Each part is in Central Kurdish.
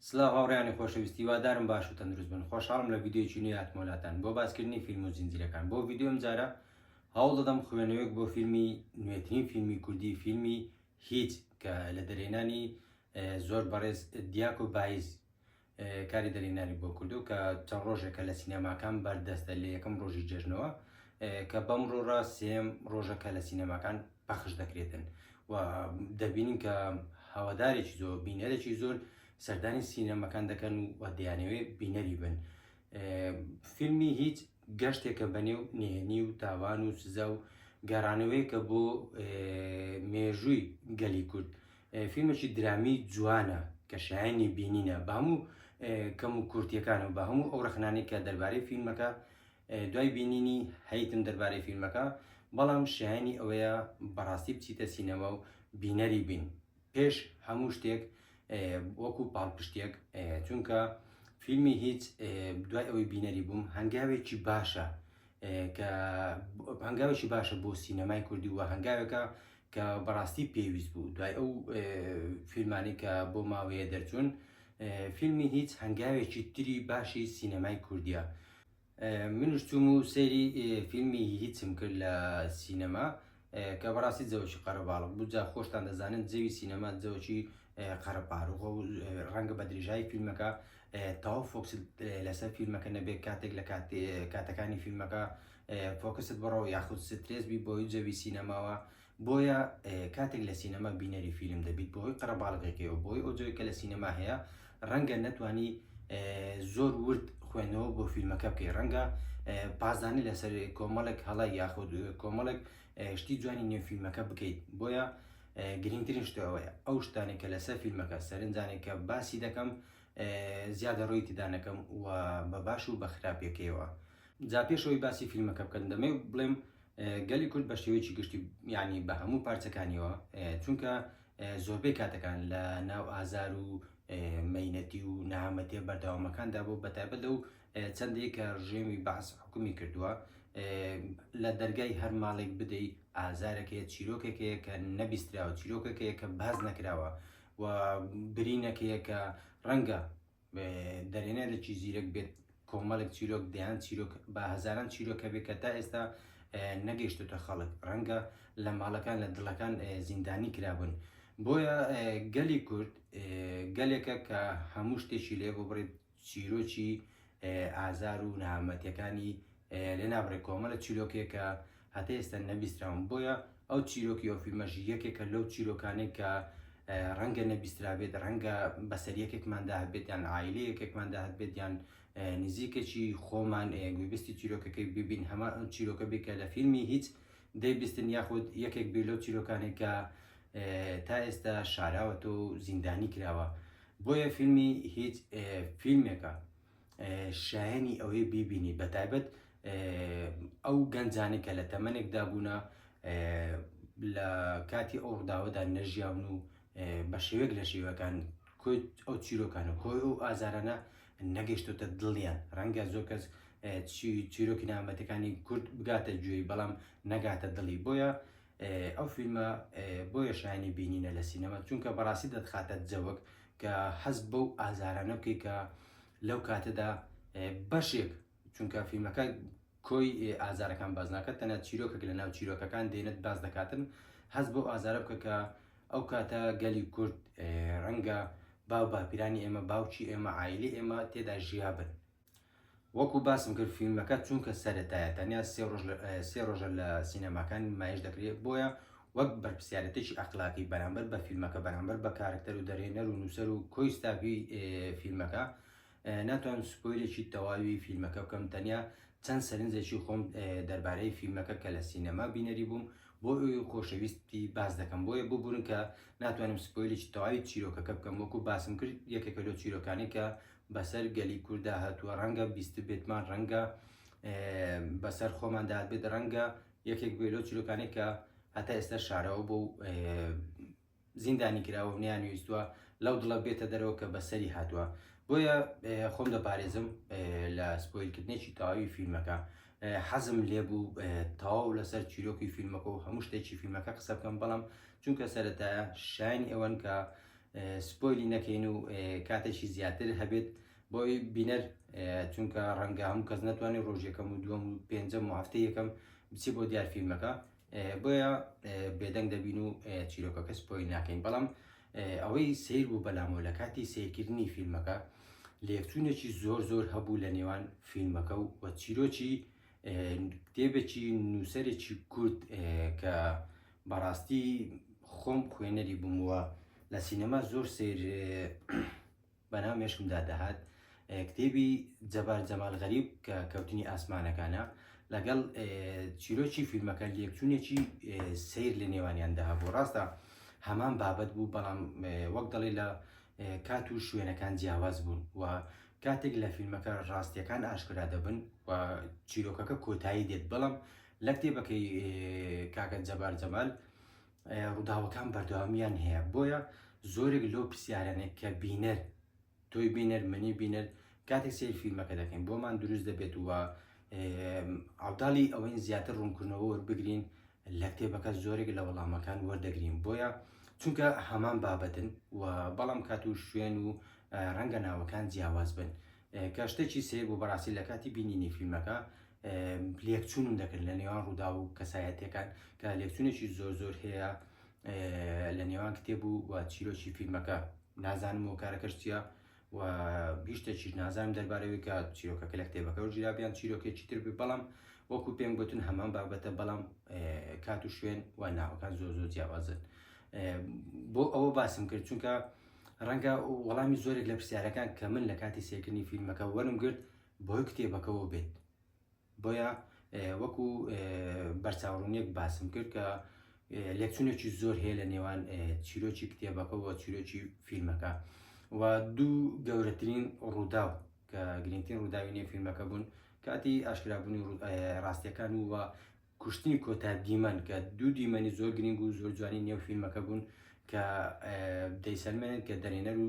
سلاو هاوڕیانی خۆشەویستی وادارم باش و تەندروست بن خۆشحاڵم لە ویددیوی نوێ هاتمۆلاتان بۆ باسکردنی فیلم و زنجیرەکان بۆ ویددیۆم جارە هەوڵ دەدەم خوێنەوەیەک بۆ فیلمی نوێترین فیلمی کوردی فیلمی هیچ کە لە دەرێنانی زۆر بەڕێز دیاکۆ بایز کاری دەرهێنانی بۆ کردو کە چەند ڕۆژێکە لە سینەماکان بەردەستە لە یەکەم ڕۆژی جەژنەوە کە بەم ڕۆرا سێم ڕۆژەکە لە سینەماکان پەخش دەکرێتن و دەبینین کە هەوادارێکی زۆر بینەرێکی زۆر سەردانی سینەمەکان دەکەن و دیانەوەی بینەری بن فیلمی هیچ گەشتێکە بەنێو نهێنی و تاوان و سزا و گەڕانەوەیەکە بۆ مێژووی گەلی کورد فیلمێکی درامی جوانە کە شایانی بینینە بە هەموو کەم و کورتیەکان و بە هەموو ئەو ڕخنانی کە دەربارەی فیلمەکە دوای بینینی هەیتم دەربارەی فیلمەکە بەڵام شایانی ئەوەیە بەڕاستی بچیتە سینەما و بینەری بین پێش هەموو شتێک وەکو پاڵپشتێک چونکە فیلمی هیچ دوای ئەوەی بینەری بووم هەنگاوێکی باشە کە هەنگاوێکی باشە بۆ سینەمای کوردی و هەنگاوێکە کە بەڕاستی پێویست بوو دوای ئەو فیلمانی کە بۆ ماوەیە دەرچوون فیلمی هیچ هەنگاوێکی تری باشی سینەمای کوردیە منیش چووم و سەیری فیلمی هیچم کرد لە سینەما کە بەڕاستی جەوەکی قەرەباڵغ بوو جا خۆشتان دەزانن جەوی سینەما جەوەکی قەرەپارڕوخە و ڕەنگە بە درێژایی فیلمەکە تەواو فۆکس لەسەر فیلمەکە نەبێت کاتێک لە کاتەکانی فیلمەکە فۆکست بڕەوە یاخود سترێس بی بۆی جەوی سینەماوە بۆیە کاتێک لە سینەما بینەری فیلم دەبیت بەهۆی قەرەباڵغێکەوە بۆی ئەو جۆی کە لە سینەما هەیە ڕەنگە نەتوانی زۆر ورد خوێندنەوە بۆ فیلمەکە بکەی ڕەنگە پازدانی لەسەر کۆمەڵێک هەڵە یاخود کۆمەڵێک شتی جوانی نێو فیلمەکە بکەیت بۆیە گرنگترین شتەوەیە ئەو شتانی کە لەسەر فیلمەکە سەرنجانێک کە باسی دەکەم زیادە ڕۆی تدانەکەم و بە باش و بە خراپەکەیەوە جا پێشەوەی باسی فیلمەکە بکەن دەمێ بڵێم گەلی کورد بە شێوەیەکی گشتی یعنی بە هەموو پارچەکانیەوە چونکە زۆربەی کاتەکان لە ناو ئازار و مینەتی و نەهامەتیە بەردەوامەکاندا بۆ بەتابەت لەو چەندێک کە ڕژێمی بەعس حکومی کردووە لە دەرگای هەر ماڵێک بدەیت ئازارەکەی چیرۆکێکەیە کە نەبیستراوە چیرۆکەکەیە کە باز نەکراوە و برینەکەیە کە ڕەنگە دەرێنێ لەکی زیرەک بێت کۆمەڵێک چیرۆک دەیان چیرۆک بە هەزاران چیرۆکە بێت کە تا ئێستا نەگەشتێتە خەڵک ڕەنگە لە ماڵەکان لە دڵەکان زیندانی کرابن بۆیە گەلی کورد گەلێکە کە هەموو شتێکی لێ بۆ بڕێت چیرۆکی ئازار و نامەتەکانی لێ نابڕێت کۆمەلە چیرۆکێکە هەتا ئێستا نەبیستراون بۆیە ئەو چیرۆکی ئەو فیلمەش یەکێکە لەو چیرۆکانەی کە ڕەنگە نەبیسترابێت ڕەنگە بەسەر یەکێکماندا هەبێت یان عیلی یەکێکماندا هەبێت یان نزیکەچی خۆمان گوێبستی چیرۆکەکەی ببین هەمان ئەو چیرۆکە بکە لە فیلمی هیچ دەیبستن یاخود یەکێک بێ لەو چیرۆکانێکە تا ئێستا شاراوەتە و زیندانی کراوە بۆیە فیلمی هیچ فیلمێکە شایەنی ئەوەی بیبینی بەتایبەت ئەو گەنجانی کە لە تەمەنێکدا بوونە لە کاتی ئەو ڕداوەدا نەژیاون و بە شێوێک لە شێوەکان کۆی ئەو چیرۆکان و کۆی ئەو ئازارانە نەگەشتۆتە دڵیان ڕەنگە زۆر کەس چیرۆکی نامەتەکانی کورد بگاتە گوێی بەڵام نەگاتە دڵی بۆیە ئەو فیلمە بۆیە شایەنی بینینە لە سینەما چونکە بەڕاستی دەتخاتە جەوەک کە حەز بەو ئازارانە بکەی کە لەو کاتەدا بەشێک چونکە فیلمەکە کۆی ئازارەکان باز ناکات تەنە چیرۆکێک لە ناو چیرۆکەکان دێنێت باز دەکاتن حەز بەو ئازارە بکە کە ئەو کاتە گەلی کورد ڕەنگە باو باپیرانی ئێمە باوکی ئێمە ئایلی ئێمە تێدا ژیابن وەکو باسم کرد فیلمەکە چونکە سەرەتایە تەنیا سێ ڕۆژ لە- اه، سێ ڕۆژە لە سینەماکان نمایش دەکرێت، بۆیە وەک بەرپسیارێتێکی ئەخلاقی بەرامبەر بە فیلمەکە، بەرامبەر بە کارەکتەر و دەرهێنەر و نووسەر و کۆی ستافی، اه، فیلمەکە، اه، ناتوانم سپۆیلێکی تەواوی فیلمەکە بکەم، تەنیا چەند سەرنجێکی خۆم، اه، دەربارەی فیلمەکە کە لە سینەما بینەری بووم بۆ خۆشەویستی باس دەکەم، بۆیە ببورن کە ناتوانم سپۆیلێکی تەواوی چیرۆکەکە بکەم، وەکو باسم کرد یەکێکە لەو چیرۆکانەی کە بەسەر گەلی کورددا هاتووە ڕەنگە بیستبێتمان ڕەنگە بەسەر خۆمان دابێت ڕەنگە یەکێک بێ لەو چیرۆکانێک کە هەتا ئێستا شارەوە بۆ زیندانی کراوە نیان ویستوە لەو دڵە بێتە دەرەوە کە بەسەری هاتووە بۆیە خۆم دەپارێزم لە سپۆیلکردنێکی تەواوی فیلمەکە حەزم لێبوو تەواو لەسەر چیرۆکی فیلمەکە و هەموو شتێکی فیلمەکە قسە بکەم بەڵام چونکە سەرەتایە شاین ئێوەن کە سپۆیلی نەکەین و کاتێکی زیاتر هەبێت بۆی بینەر چونکە ڕەنگە هەموو کەس ناتوانێت ڕۆژێکەم و دووەم و پێنجەم و هەفتە یەکەم بچی بۆ دیار فیلمەکە بۆیە بێدەنگ دەبین و چیرۆکەکە سپۆیل ناکەین بەڵام ئەوەی سیر بوو بەلامەوە لە کاتی سیرکردنی فیلمەکە لێکچوونێکی زۆر زۆر هەبوو لە نێوان فیلمەکە و وە چیرۆکی کتێبێکی نووسەرێکی کورد کە بەڕاستی خۆم خوێنەری بووم و لە سینەما زۆر سیر بەناو مێشکمدا دەهات کتێبی جەبار جەمال غەریب کە کەوتنی ئاسمانەکانە لەگەڵ چیرۆکی فیلمەکە لێکچوونێکی سیر لە نێوانیاندا هەبوو ڕاستە هەمان بابەت بوو بەڵام وەک دەڵێ لە کات و شوێنەکان جیاواز بوون و کاتێک لە فیلمەکە ڕاستیەکان ئاشکرا دەبن و چیرۆکەکە کۆتایی دێت بەڵام لە کتێبەکەی کاکە جەبار جەمال ڕووداوەکان بەردەوامیان هەیە بۆیە زۆرێک لەو پرسیارانێک کە بینەر تۆی بینەر منی بینەر کاتێک سیر فیلمەکە دەکەین بۆمان دروست دەبێت وە عوداڵی ئەوەین زیاتر ڕوونکردنەوە وەربگرین لە کتێبەکە زۆرێک لە وەڵامەکان وەردەگرین بۆیە چونکە هەمان بابەتن و بەڵام کات و شوێن و ڕەنگە ناوەکان جیاواز بن کە شتێکی سەیر بوو بەڕاستی لە کاتی بینینی فیلمەکە لێکچوونم دەکرد لە نێوان ڕوودا و کەسایەتەکان کە لێکچوونێکی زۆر زۆر هەیە لە نێوان کتێب و و چیرۆکی فیلمەکە نازانم و کارەکەش چییە و بیشتێکیش نازانم دەربارەوەی کە چیرۆکەکە لە کتێبەکە و جیرابیان چیرۆکێکی تر بێ بەڵام وەکو پێم گوتن هەمان بابەتە بەڵام کات و شوێن و ناوەکان زۆر زۆر جیاوازن بۆ ئەوە باسم کرد چونکە ڕەنگە وەڵامی زۆرێک لە پرسیارەکان کە من لە کاتی سێکردنی فیلمەکە وەرم گرت بۆی کتێبەکەەوە بێت بۆیە وەکو بەرچاوڕونیەک باسم کرد کە لێکچونێکی زۆر هەیە لە نێوان چیرۆکی کتێبەکە و چیرۆکی فیلمەکە و دوو گەورەترین ڕووداو کە گرنگترین ڕووداوی نێ فیلمەکە بوون کاتی ئاشکرابوونی ڕاستیەکان و کوشتنی کۆتا دیمەن کە دوو دیمەنی زۆر گرنگ و زۆر جوانی نێو فیلمەکە بوون کە دەیسەلمێنن کە دەرێنەر و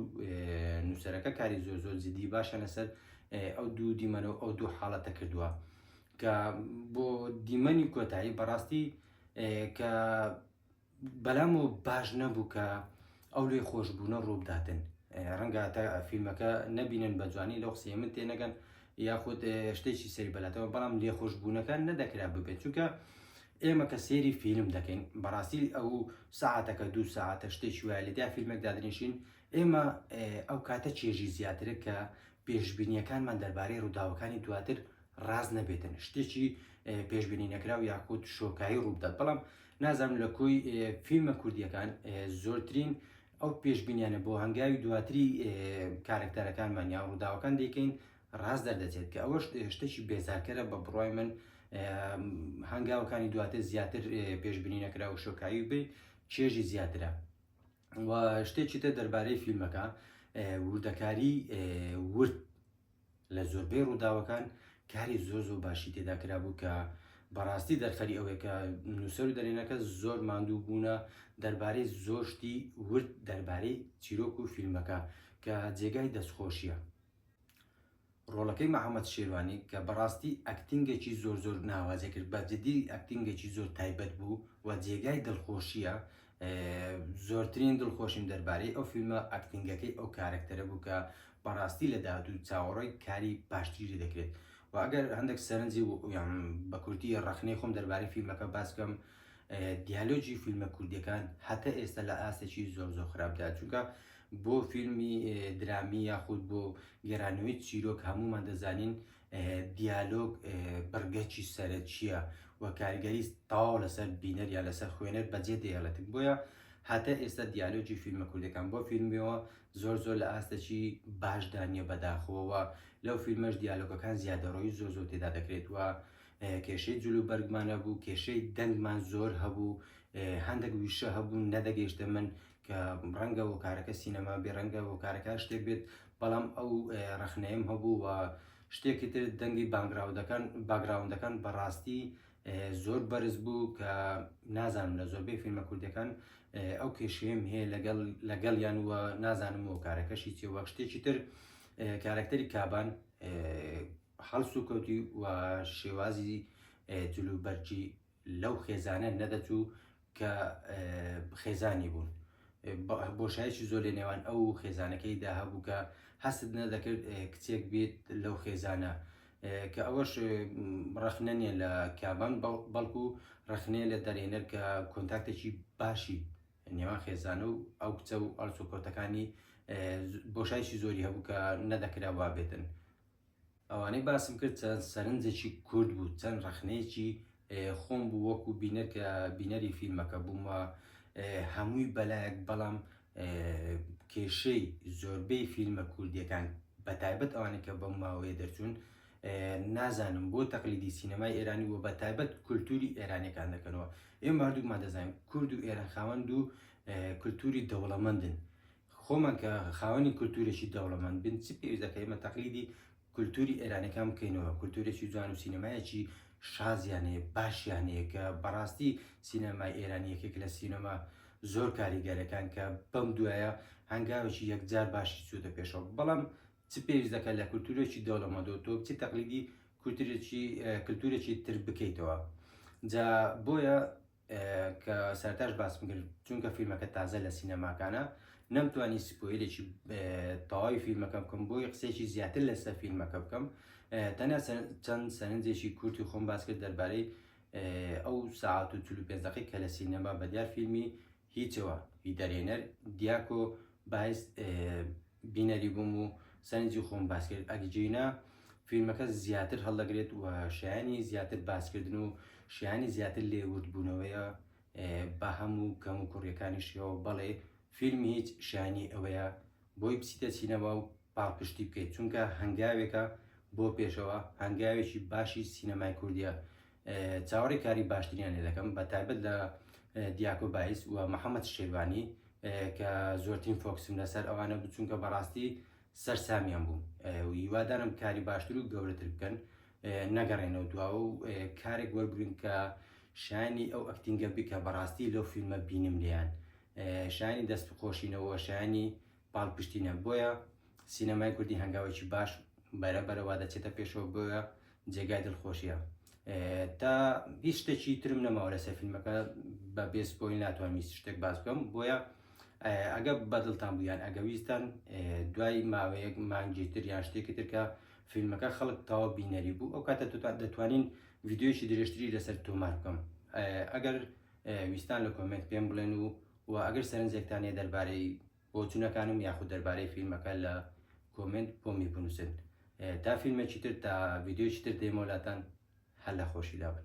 نووسەرەکە کاری زۆر زۆر جدی باشە لەسەر ئەو دوو دیمەن و ئەو دوو حاڵەتە کردووە کە بۆ دیمەنی کۆتایی بەڕاستی کە بەلام و باش نەبوو کە ئەو لێ خۆشببوونە ڕووبداتن ڕەنگە تا فیلمەکە نەبینن بە جوانی لەو قسەیە من تێنەگەن یاخود شتێکی سەری بەلاتەوە بەڵام لێ خۆشببوونەکان نەدەکرا ببێت چونکە ئێمە کە سێری فیلم دەکەین بەڕاستی ئەو ساعتەکە دوو ساعتە شتێکی وایە لەدا فیلمێک دادنیشین ئێمە ئەو کاتە چێژی زیاترە کە پێشببینیەکانمان دەربارەی ڕووداوەکانی دواتر ڕاز نەبێتن شتێکی پێشببینی نەکراو یاخود شۆکایی ڕووبدات بەڵام نازانم لە کۆی فیلمە کوردیەکان زۆرترین ئەو پێشبینیانە بۆ هەنگاوی دواتری کارکتەرەکانمان یا ڕووداوەکان دەیکەین ڕاست دەردەچێت کە ئەوەش شتێکی بێزارکەرە بە بڕای من هەنگاوەکانی دواتر زیاتر پێشببینی نەکرا و شۆکایی بێ چێژی زیاترە و شتێکی تە دەربارەی فیلمەکە وردەکاری ورد لە زۆربەی ڕووداوەکان کاری زۆر زۆر باشی تێدا کرابوو کە بەڕاستی دەرخەری ئەوەیە کە نووسەر و دەرێنەکە زۆر ماندوو بوونە دەربارەی زۆشتی ورد دەربارەی چیرۆک و فیلمەکە کە جێگای دەستخۆشیە ڕۆڵەکەی محەممەد شێوانی کە بەڕاستی ئەکتنگێکی زۆر زۆر ناوازە کرد بە جدی ئەکتنگێکی زۆر تایبەت بوو و جێگای دڵخۆشیە زۆرترین دڵخۆشیم دەربارەی ئەو فیلمە ئەکتینگەکەی ئەو کارەکتەرە بوو کە بەڕاستی لە داهاتوو چاوەڕێی کاری باشتری لێ دەکرێت و ئەگەر هەندێک سەرنجی و یان بە کوردی ڕەخنەی خۆم دەربارەی فیلمەکە باس بکەم دیالۆجی فیلمە کوردیەکان هەتا ئێستا لە ئاستێکی زۆر زۆر خراپدا چونکە بۆ فیلمی درامی یاخود بۆ گێرانەوەی چیرۆک هەمومان دەزانین دیالۆگ بڕگەکی سەرەکییە و کاریگەری تەواو لەسەر بینەر یا لەسەر خوێنەر بەجێ دێڵێتن بۆیە هاتە ئێستا دیالۆگی فیلمە کوردەکان بۆ فیلمەوە زۆر زۆر لە ئاستەکی باشدا نییە بەداخەوەوە لەو فیلمەش دیالۆگەکان زیادەڕۆی زۆر زۆر تێدا دەکرێت وە کێشەی جلو بەرگمانە بوو کێشەی دەنگمان زۆر هەبوو هەندێک ویشە هەبوو نەدەگەیشتە من کە ڕەنگە هۆکارەکە سینەما بێ ڕەنگە هۆکارەکە هەر شتێک بێت بەڵام ئەو ڕەخنەیەم هەبوو و شتێکی تر دەنگی بانگراودەکان باگراوندەکان بەڕاستی زۆر بەرز بوو کە نازانم لە زۆربەی فیلمە کوردەکان ئەو کێشەیەم هەیە لەگەڵ لەگەڵ یان وە نازانم و کارەکەشی چێ وەک شتێکی تر کارەکتەری کابان هەڵسوکەوتی و شێوازی جلوبەرجی لەو خێزانە نەدەچوو کە خێزانی بوون بۆشایکی زۆر لە نێوان ئەو خێزانەکەیدا هەبوو کە هەستت نەدەکرد کچێک بێت لەو خێزانە کە ئەوەش ڕخنە نیە لە کابان بەڵکو ڕخنەیە لە دەرێنەر کە کۆنتاکتێکی باشی نێوان خێزانە و ئەو کچە و ئەڵسوکۆتەکانی بۆشایکی زۆری هەبوو کە نەدەکرا وابێتن ئەوانەی باسم کرد چەند سەرنجێکی کورت بوو چەند ڕەخنەیەکی خۆم بوو وەکو بینەر کە بینەری فیلمەکە بووم و هەمووی بەلایەک بەڵام کێشەی زۆربەی فیلمە کوردیەکان بە تایبەت ئەوانەی کە بەم ماوەیە دەرچوون نازانم بۆ تەقلیدی سینەمای ئێرانی و بە تایبەت کولتوری ئێرانەکان دەکەنەوە ئێمە هەردووکمان دەزانین کورد و ئێران خاوەند و کولتوری دەوڵەمەندن خۆمان کە خاوەنی کولتوورێکی دەوڵەمەند بین چ پێویست دەکە ئێمە تەقلیدی کولتووری ئێرانەکان بکەینەوە کولتوورێکی جوان و سینەمایەکی شازیان هەیە باشیان هەیە کە بەڕاستی سینەمای ئێرانی یەکێک لە سینەما زۆر کاریگەرەکان کە بەم دوایە هەنگاوێکی یەکجار باشی چووتە پێشەوە بەڵام چ پێویست دەکە لە کولتوورێکی دەوڵەمەدۆ تۆ بچی تەقلیدی کولتوورێکی کولتوورێکی تر بکەیتەوە جا بۆیە کە سەرتاش باسم کرد چونکە فیلمەکە تازە لە سینەماکانە نەمتوانی سپۆیلێکی تەواوی فیلمەکە بکەم بۆی قسێکی زیاتر لەسەر فیلمەکە بکەم تەنە چەند سەرنجێکی کورتی خۆم باس کرد دەربارەی ئەو ساعت و چلو پێنجەکەی کە لە سینەما بەدیار فیلمی هیچەوە هیدەرێنەر دیاکۆ بایست بینەری بووم و سەرنجی خۆم باس کرد ئەگجینە فیلمەکە زیاتر هەڵدەگرێت و شایانی زیاتر باسکردن و شایانی زیاتر لێوردبوونەوەیە بە هەموو کەم و کوڕیەکانیشەوە بەڵێ فیلم هیچ شانی ئەوەیە بۆی بچیتە سینەما و پاڵپشتی بکەیت چونکە هەنگاوێکە بۆ پێشەوە هەنگاوێکی باشی سینەمای کوردیە چاوەڕێی کاری باشتریان لێ دەکەم بە تایبەت لە دیاکۆ بایس و محەممەد شێبانی کە زۆرترین فۆکسم لەسەر ئەوانە بچونکە بەڕاستی سەر سامیان بووم هیوادارم کاری باشتر و گەورەتر بکەن نەگەڕێنەوە دواوە و کارێک وەربگرن کە شانی ئەو ئەکتینگە بکە بەڕاستی لەو فیلمە بینم لیان شانی دەست خۆشینەوە شانی پاڵپشتی نیە بۆیە سینەمای کوردی هەنگاوێکی باش بەرە بەرەوا دەچێتە پێشەوە بۆیە جێگای دڵخۆشیە تا هیچ شتێکی ترم نەماوە لەسەر فیلمەکە بە بێس بۆی ناتوانم هیچ شتێک باس بکەم بۆیە ئەگە بەدڵتان بوویان ئەگە ویستان دوای ماوەیەک مانگی تر یان شتێکی ترکە فیلمەکە خەڵک تاوە بینەری بوو ئەو کاتە دەتوانین ڤیددیویی درێژتری لەسەر تۆمار بکەم ئەگەر ویستان لە کۆمنت پێم بڵێن و وە ئەگەر سەرنجێکتان هەیە دەربارەی بۆچونەکانم یاخود دەربارەی فیلمەکە لە کۆمێنت بۆمی بنووسن تا فیلمێکی تر تا ڤیدیۆکی تر دێمەوە لاتان هەر لە خۆشی دابن